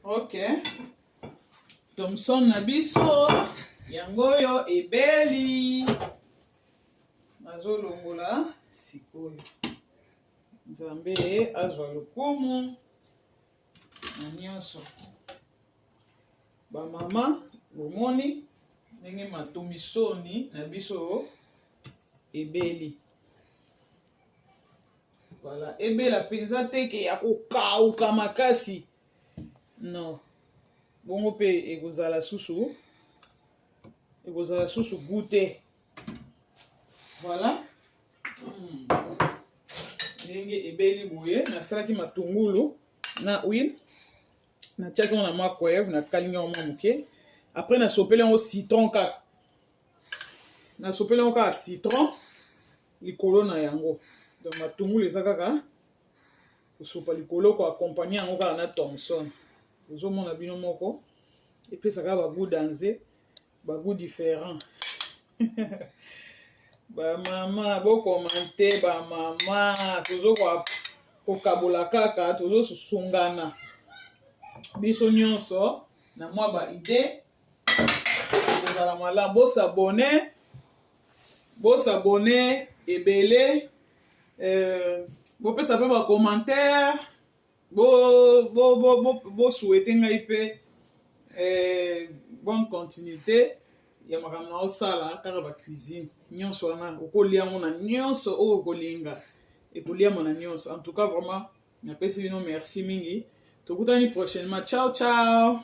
ok thomson na biso yango oyo ebeli nazolongola sikoyo nzambe azwa lokumu na nyonso bamama bomoni ndenge matomisoni na biso ebeli Voilà, ebela mpenza te ke ya kokauka makasi non bongo mpe ekozala susu ekozala susu gu te voilà hmm. ndenge ebeli boye nasalaki matungulu na huile natiaki yango na microwave nakalingi yango mwa moke après nasopeli yango citron kaka nasopeli yango kaka citron likolo na yango donc matungulu eza kaka kosopa likolo koakompagne yango kaka na thomson ozomona bino moko epesaka bagu danze bagu différent bamama bokomante bamama tozo kokabola kaka tozosusungana biso nyonso na mwa baide ekozala malamu bosabone bosabone ebele euh, bopesa mpe bacommentaire bosouete bo, bo, bo, bo ngai mpe euh, bonne continuité ya makambo na osala kaka bacuisine nyonso wana okolia yango na nyonso oyo okolinga ekoliama na nyonso en tout cas vraiment napesi bino merci mingi tokutani prochainement ciao ciao